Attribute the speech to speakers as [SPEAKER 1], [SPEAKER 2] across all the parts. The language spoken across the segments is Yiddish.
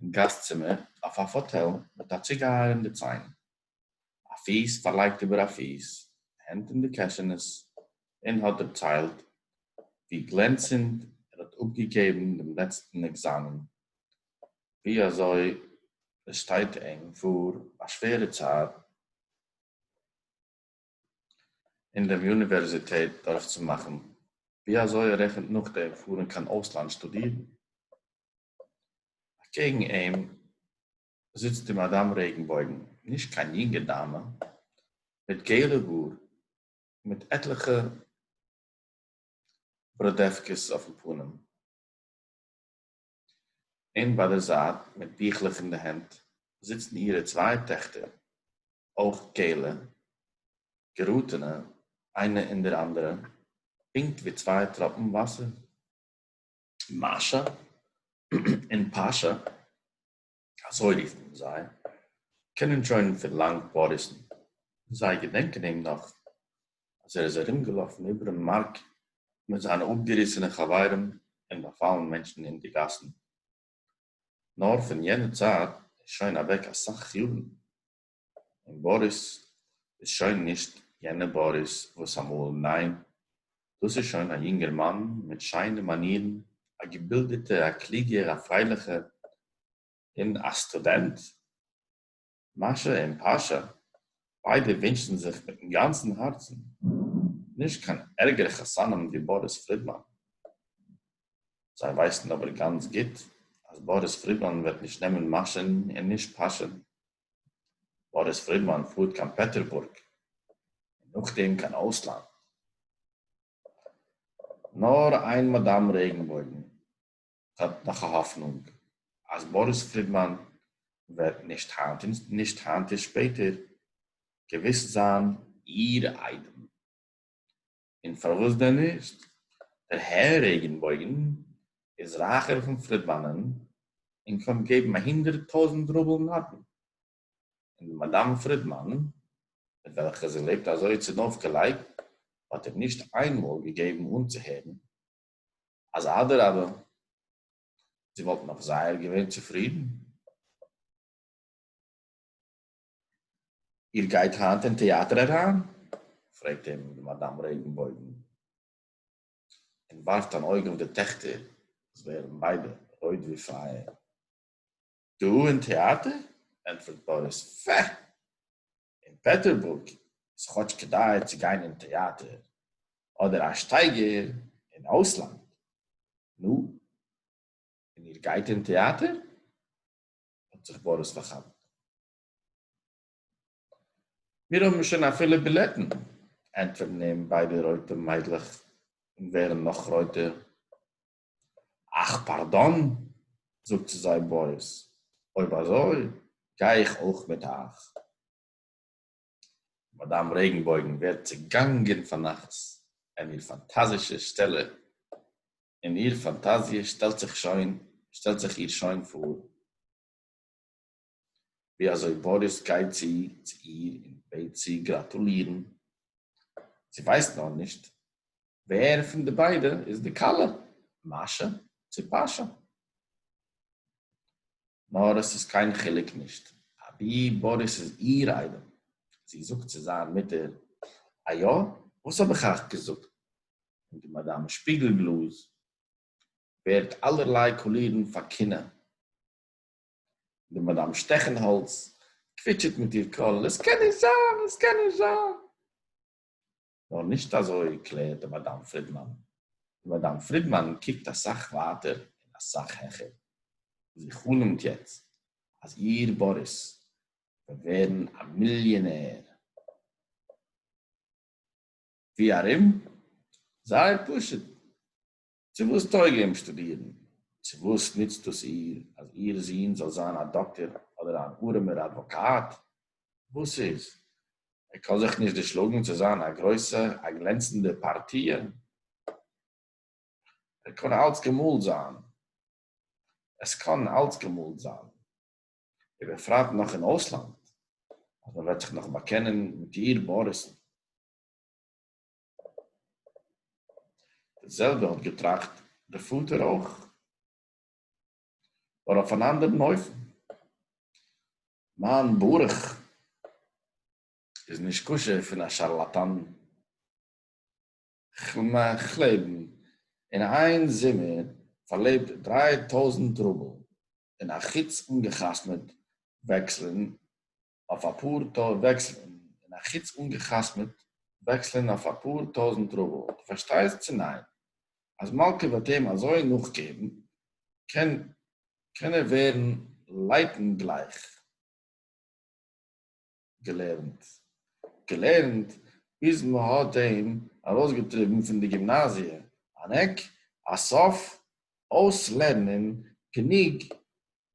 [SPEAKER 1] אין גאסט צימער אויף א פאטעל מיט א ציגייער אין די ציין, א פיס פארלייגט איבער א פיס, הענט אין די קעשענעס, און האט דערציילט ווי גלענצענד ער האט אפגעגעבן דעם לעצטן עקזאמען, ווי אזוי עס שטייט אים פאר א שווערע צייט אין דעם יוניווערזיטעט דורכצומאכן, ווי אזוי ער רעכנט נאכדעם פארן קיין אויסלאנד שטודירן. אַקעגן אים זיצט די מאַדאַם רעגנבױגן, נישט קײן יונגע דאַמע, מיט געלע האָר, מיט עטלעכע בראָדעװקעס אױפֿן פּנים, און בײַ דער זײַט, מיט ביכלעך אין די הענט, זיצן אירע צװײ טעכטער, אױך געלע, געראָטענע אײנע אין דער אַנדערע, פּונקט װי צװײ טראָפּן װאַסער. מאַשע און פּאַשע, אַזױ רופֿט מען זײ, קענען שױן פֿון לאַנג באָריסן. זײ געדענקען אים נאָך, אַז ער איז אַרומגעלאָפֿן איבערן מאַרק מיט זײַנע אָפּגעריסענע חבֿרים און באַפֿאַלן מענטשן אין די גאַסן. נאָר פֿון יענער צײַט איז שױן אַװעק אַ סך יאָרן. און באריס איז שוין נישט יענע באריס וואס אמאל, ניין, דאס איז שוין א יונגערמאן מיט שיינע מאנירן, א געבילדעטע, א קלוגער, א פרייליכע, און א סטודענט. מאשע און פאשע, ביידע ווינטשן זיך מיטן גאנצן הארצן נישט קיין ערגערע חתנים ווי באריס פרידמאן. זיי ווייסן אבער גאנץ גוט אז באריס פרידמאן וועט נישט נעמען מאשע'ן און נישט פאשע'ן, באריס פרידמאן פארט קיין פעטערבורג און נאכדעם קיין אויסלאנד. נאר איין מאדאם רעגנבויגן האט נאך א האפנונג אז באריס פרידמאן וועט נישט היינט און נישט היינט און שפעטער געוויס זיין איר איידעם. און פארוואס דען נישט? דער הער רעגענבויגען איז רייכער פון פרידמאנען און קען געבן א הונדערט טויזענט רובל נדן. און די מאדאם פרידמאן מיט וועלכע זי לעבט אזוי צונויפגעלייגט האט איר נישט איינמאל געגעבן אנצוהערן אז אדרבה זי וואלט נאך זייער געווען צופרידן. איר גייט היינט אין טעאַטער אַריין? פרעגט אים די מאַדאַם רעגנבויגן און וואַרפט אַן אויג אויף די טעכטער, וואָס ווערן ביידע רויט ווי פייער. דאָ אין טעאַטער? ענטפערט באָריס. פֿע! אין פּעטערבורג איז כאָטש כדאי צו גיין אין טעאַטער, אָדער אַ שטייגער אין אויסלאַנד. נו, און איר גייט אין טעאַטער? האט זיך באריס פארכאפט. מיר האבן שוין אפילו בילעטן! ענטפערן אים ביידע רויטע מיידלעך און ווערן נאך רויטער. אך פארדאן! זאגט צו זיי באריס, אויב אזוי גיי איך אויך מיט אייך. מאדאם רעגנבויגן ווערט צעגאנגען פאר נחת אין איר פאנטאזישע שטעלע און איר פֿאַנטאַזיע שטעלט זיך שױן, שטעלט זיך איר שױן פֿאָר, װי אַזױ באָריס גײט צו צו איר און בעט זי גראַטולירן. זי װײסט נאָר נישט, װער פֿון די בײדע איז די כּלה, מאַשע צי פּאַשע. נאר עס איז קיין חילוק נישט אבי באריס איז איר איידעם, זי זאגט צו זיין מוטער, א יא? וואס האב איך אייך געזאגט? און די מאדאם שפיגל-גלאז ווערט אלערליי קאלירן פאר קנאה, און די מאדאם שטעכן-האלץ קוויטשעט מיט איר קול, עס קען נישט זיין! עס קען נישט זיין! נאר נישט אזוי קלערט די מאדאם פרידמאן. די מאדאם פרידמאן קוקט אסאך ווייטער און אסאך העכער. זי חלומ'ט יעצט אז איר באריס וועט ווערן א מיליאנער. ווי ארום? זייער פשוט. צו וואס טויג אים שטודירן? צו וואס נוצט דאס איר אז איר זון זאל זיין א דאקטער אדער אן ארעמער אדוואקאט? וואס איז, ער קען זיך נישט דערשלאגן צו זיין א גרויסע, א גלענצנדע פארטיע? ער קען אלץ געמאלט זיין, עס קען אלץ געמאלט זיין, ובפרט נאך אין אויסלאנד, אז מען וועט זיך נאך באקענען מיט איר באריסן. די זעלבע האט געטראכט דער פאטער אויך, נאר אויף אן אנדערן אופן. מיין ברוך איז נישקשה פון א שארלאטאן. כ'מעך לעבן אין איין זומער פארלעבט דריי טויזנט רובל, און א חוץ אנגע'חתמ'עט וועקסלען אויף א פאר טא וועקסלען און א חוץ אנגעחתמעט וועקסלען אויף א פאר טויזנט רובל דו פארשטייסט צו ניין? אז מלכא וועט אים אזוי נאכגעבן קען קען ער ווערן לייטן גלייך געלערנט געלערנט ביז מען האט אים ארויסגעטריבן פון די גימנאזיע אן עק א סוף אויסלערנען גענוג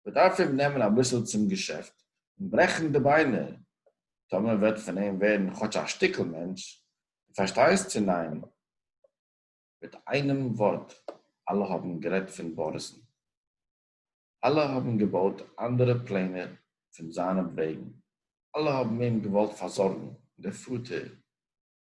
[SPEAKER 1] מ'דארף אים נעמען אביסל צום געשעפט און ברעכן די ביינער, טאמער וועט פון אים ווערן כאטש א שטיקל מענטש, דו פארשטייסט צו ניין? מיט איינעם ווארט, אלע האבן גערעדט פון באריס'ן. אלע האבן געבויט אנדערע פלענער פון זיינעם וועגן, אלע האבן אים געוואלט פארזארגן, דער פאטער,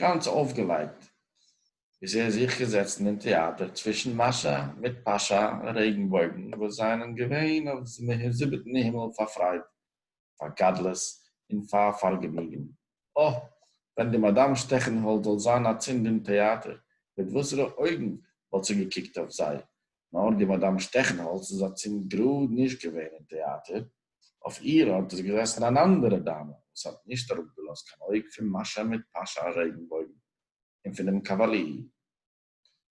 [SPEAKER 1] גאנץ אויפגעלייגט איז ער זיך געזעצן אין טעאטער צווישן מאשא מיט פאשא און רעגנבויגן וואס זיינען געווען אויף זיבעטן הימל פאר פרייד, פאר גדלות און פאר פארגעניגן. אָ, ווען די מאדאם שטעכענהאלד זאל זיין אצינד אין טעאטער, מיט וואסערע אויגן וואלט זי געקוקט אויף זיי? נאר די מאדאם שטעכענהאלדס איז אצינד גראד נישט געווען אין טעאטער, אויף איר אָרט איז געזעסן אַן אַנדערע דאַמע, וואָס האָט נישט אַראָפּגעלאָזט קיין אויג פון מאַשאַ מיט פּאַשאַ רעגנבויגן און פון דעם קאַוואַליער,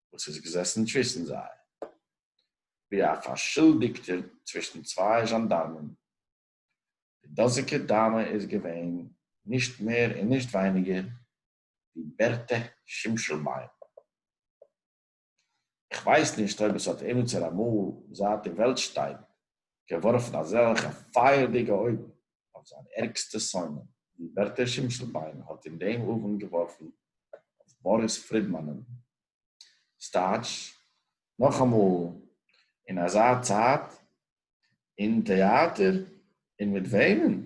[SPEAKER 1] וואָס איז געזעסן צווישן זיי, ווי אַ פאַרשולדיקטער צווישן צוויי זשאַנדאַרמען. די דאָזיקע דאַמע איז געווען נישט מער און נישט ווייניגער ווי בערטע שימשלביים. איך ווייס נישט אויב עס האט עמיצער אמאל, זייט די וועלט שטייט, געווארפן אזעלכע פייערדיגע אויגן אויף זיין ערגסטע שונא, ווי בערטע שימשלביין האט אין דעם אוונט געווארפן אויף באריס פרידמאנ'ן. ס'טייטש, נאכאמאל, אין אזא צייט, אין טעאטער, און מיט וועמען?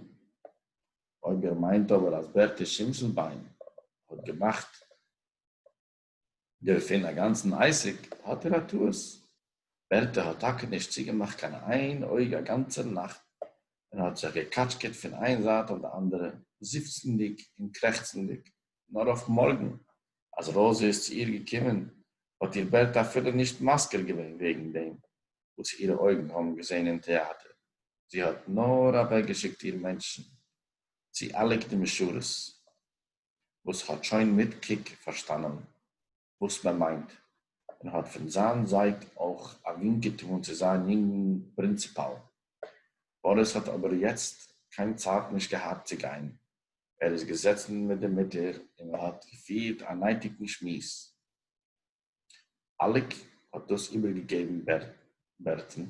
[SPEAKER 1] אויב איר מיינט אבער אז בערטע שימשלביין האט געמאכט דערפון א גאנצן עסק האט ער א טעות, בערטע האט טאקע נישט צוגעמאכט קיין איין אויג א גאנצער נאכט און האט זיך געקאטשקעט פון איין זייט אויף די אנדערע זיפצנדיג און קרעכצנדיג, נאר אויף מארגן אז ראזע איז צו איר געקומען האט איר בערטע אפילו נישט מזכיר געווען וועגן דעם וואס אירע אויגן האבן געזען אין טעאטער, זי האט נאר אוועקגעשיקט איר מענטשן צו אלעק די משרת. וואס האט שוין מיט קוק פארשטאנען וואס מען מיינט, און האט פון זיין זייט אויך א ווינק געטאן צו זיין יונגן פרינציפאל. באריס האט אבער יעצט קיין צייט נישט געהאט צו גיין, ער איז געזעצן מיט די מוטער און מען האט געפירט א נייטיגן שמועס. אליק האט דאס איבערגעגעבן בערטל,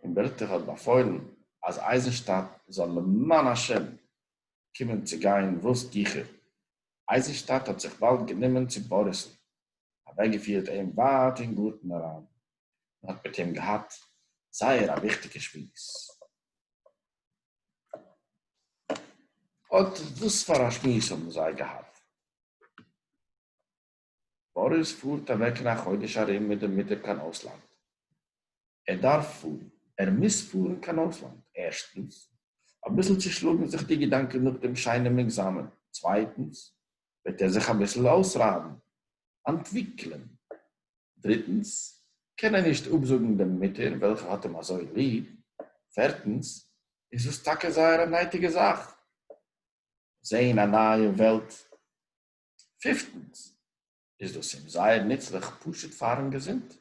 [SPEAKER 1] און בערטל האט באפוילן אז אייזנשטאט זאל למען השם קומען צו גיין וואס גיכער. אייזנשטאט האט זיך באלד גענומען צו באריס'ן, אוועקגעפירט אים ווייט אין גארטן אריין, און האט מיט אים געהאט זייער א וויכטיגע שמועס. אט וואס פאר א שמועס האבן זיי געהאט. באריס פארט אוועק אין א חודש ארום מיט די מוטער קיין אויסלאנד. ער דארף פארן. ער מוז פארן קיין אויסלאנד. ערשטנס. אביסל צושלאגן זיך די געדאנקען נאך דעם שיינעם עקזאמען. צווייטנס. וועט ער זיך אביסל אויסרייבן. אנטוויקלען. דריטנס. קען ער נישט אפזאגן דעם מוטער וועלכע האט אים אזוי ליב. פערטנס. איז דאס טאקע זייער א נייטיגע זאך. זען א נייע וועלט. פיפטנס, איז דאס אים זייער נוצליך פשוט פארן געזונט.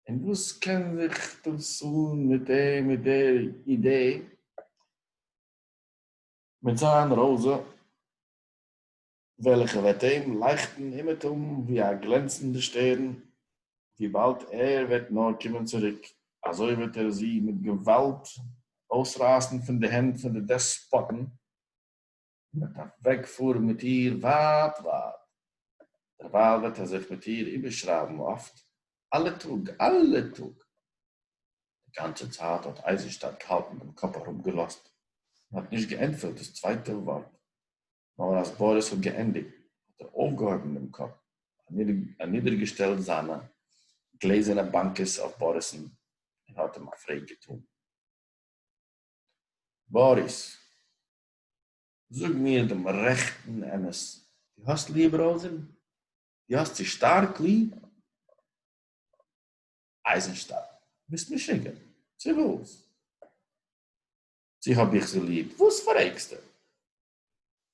[SPEAKER 1] און וואס קען זיך דאס אן מיט דעם מיט דער אידעי מיט זיין ראזע וועלכע וועט אים לייכטן אומעטום ווי א גלענצנדע שטערן וויבאלד ער וועט נאר קומען צוריק, אזוי וועט ער זי מיט געוואלד אויסרייסן פון די הענט פון די דעספאטן. און וועט אַוועקפֿאָרן מיט איר ווײַט, ווײַט. דערווײַל וועט ער זיך מיט איר איבערשרײַבן אָפֿט, אַלע טאָג, אַלע טאָג. די גאַנצע צײַט האָט אײַזנשטאַט געהאַלטן דעם קאָפּ אַראָפּגעלאָזט און האָט נישט געענטפֿערט דאָס צווייטע וואָרט. נאָר אַז באָריס האָט געענדיקט, האָט ער אויפֿגעהויבן דעם קאָפּ, אַנידערגעשטעלט זײַנע גלעזערנע באַנקעס אויף באָריסן און האָט אים אַ פֿרעג געטאָן. באָריס! זאג מיר דעם רעכטן אמת, דו האסט ליעב ראוזען? דו האסט זי שטארק ליעב? אייזנשטאדט, ביסט משוגע? צו וואס? צו האב איך זי ליעב? וואס פרעגסטו?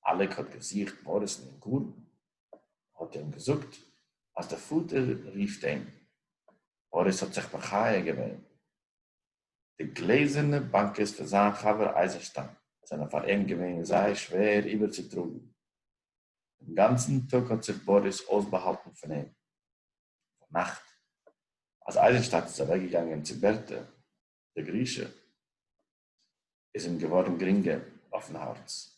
[SPEAKER 1] אלעק האט געזוכט מאריסן אין גארטן, האט אים געזאגט אז די פאטער רופט אים, מאריס האט זיך מחיה געווען, די גלעזערנע באנקעס פון זיין חבר אייזענשטיין זענען פאר אים געווען זייער שווער איבערצוטראגן. דעם גאנצן טאג האט זיך באריס אויסבאהאלטן פון אים. ביינאכט, אז אייזענשטאט איז אוועקגעגאנגען צו בערטע די גרושה, איז אים געווארן גרינגער אויפן הארץ.